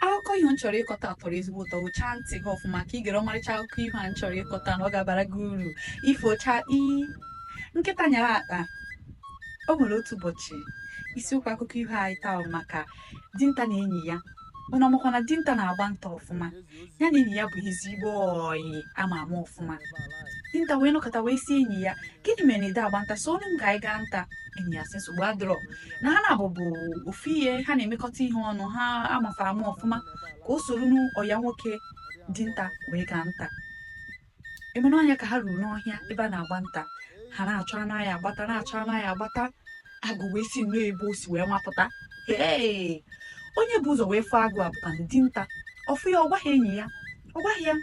akụkọ ifo m chọrọ ịkọta tọrọ ezigbo ụtọ gụchaa ntị gị ọfụma ka ị gere ọmarịcha akụkọ ifo a m chọrọ ịkọta na ọ ga-abara gị uru ifo chakpii nkịta nyara akpa o nwere otu ụbọchị isiokwu akụkọ ifo anyị taa bụ maka dinta na enyi ya ụnụ amakwa na dinta na-agba nta ọfụma ya na enyi ya bụ ezigbo ọyị a ma ama ọfụma dinta wee nọkata wee si enyi ya gịnị mere na i de agba nta soro m ka anyị gaa nta enyi ya sị nsogbu adịrọ na ha na-abụbụ ofu ihe ha na-emekọta ihe ọnụ a ma fa ama ọfụma ka o soronụ ọyị ya nwoke dinta wee gaa nta ebe n'ọhịa ka ha ruru n'ọhịa ebe a na-agba nta ha na-achọ anụ a ya-agbata na-achọ anụ a ya-agbata agụ wee si nnọọ ebe o si wee mapụta ee onye bu ụzọ wee fụ agụ a bụ dinta ọ fụ ya ọ gwaghị enyi ya ọ gwaghị ya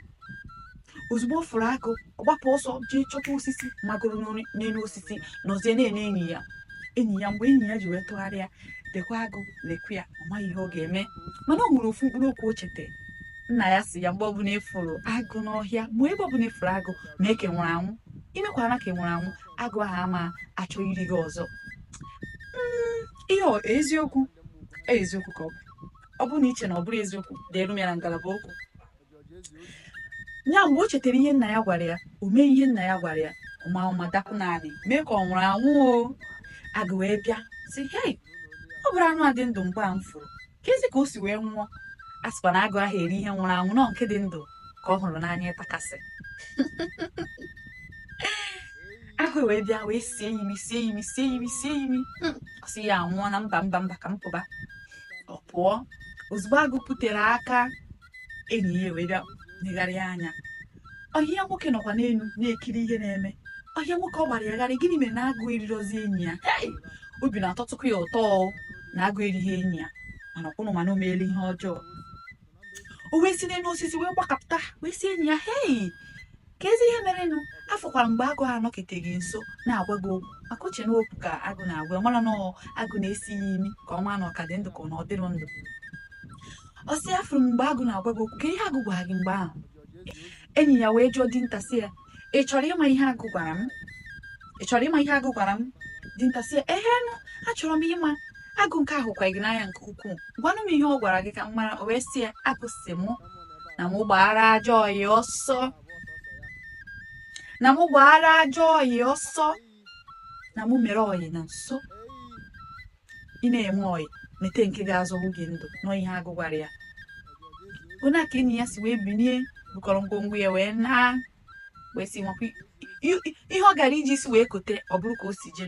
ozugbo ọ fụrụ agụ ọ gbapụ ọsọ jee chọta osisi magoro n'elu osisi nọzie na-ene enyi ya enyi ya mgbe enyi ya ji wee tụgharịa lekwa agụ lekwa ya ọ maghị ihe ọ ga-eme mana o nwere ofu mkpụrụ okwu o chete nna ya si ya mgbe ọbụla ị fụrụ agụ n'ọhịa ma ebe ọbụla ị fụrụ agụ mee ka ị nwụrụ anwụ i mekwana ka ị nwụrụ anwụ agụ ahụ ama achọ iri gị ọzọ Mm, ihe ọ- eziokwu eziokwu ka ọ bụ ọ bụrụ na i che na ọ bụrụ eziokwu deeru m ya na ngalaba okwu ya mgbe o chetara ihe nna ya gwara ya o mee ihe nna ya gwara ya ọ ma ụma dakpu n'anị mee ka ọ nwụrụ anwụ o agụ wee bịa si hei ọ bụrọ anụ a dị ndụ mgbe a m fụrụ kezi ka o si wee nwụọ a sịkwa na agụ ahụ eri ihe nwụrụ anwụ na ọ nke dị ndụ ka ọ hụrụ n'anya ịtakasị agụ wee bịa wee sie imi sie imi sie imi sie imi hmm, ọ sị ya anwụọna mba mba mba ka m pụba ọ pụọ ozugbo agụ pụtere aka enyi ya wee bịa negharịa anya ọyị ya nwoke nọkwa n'elu na-ekiri ihe na-eme ọyị ya nwoke ọ gbara ya gharịị gịnị mere na agụ erirọzi enyi ya Hey! obi na-atọtụkwa ya ụtọ o, na agụ erighị enyi ya mana ọkwụnụ mana o meela ihe ọjọọ o wee si n'elu osisi wee gbakapụta wee si enyi ya hei kezi ihe merenụ afụkwara m mgbe agụ a nọkete gị nso na-agwa gị okwu maka o che na okwu ka agụ na-agwa ya ọ marọ na agụ na-esi ya imi ka ọ mara na ọ ka dị ndụ ka ọ na ọ dịrọ ndụ ọ sị afụrụ m mgbe agụ na-agwa gị okwu kee ihe agụ gwara gị mgbe ahụ enyi ya wee jụọ dinta sị ya ị chọrọ ịma ihe agụ gwara m ị chọrọ ịma ihe agụ gwara m dinta si ya ehenụ achọrọ m ịma agụ nke a hụkwa gị n'anya nke ukwuu gwanụ m ihe ọ gwara gị ka m mara o wee si ya agụ si mụ na mụ gbaara ajọ ọyị ọsọ na mụ gbaara ajọ ọyị ọsọ na mụ mere ọyị na nso ị na-eme ọyị mete nke ga-azọpụ gị ndụ na ọ ihe agụ gwara ya ọ nya ka enyi ya si wee binie bukọrọ ngwongwo ya wee naa wee si nwakwa ihe ọ gara iji isi wee kote ọ bụrụ ka o si jee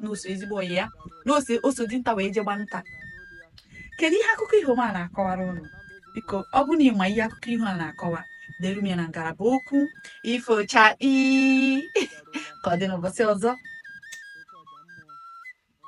n'oso ezigbo ọyị ya o so dinta wee jee gba nta kedu ihe akụkọ iho m a na-akọwara ụnụ biko ọ bụ na ị ma ihe akụkọ iho a na-akọwa deere m ya na ngalaba okwu ifo chakpii ka ọ dị n'ụbọchị ọzọ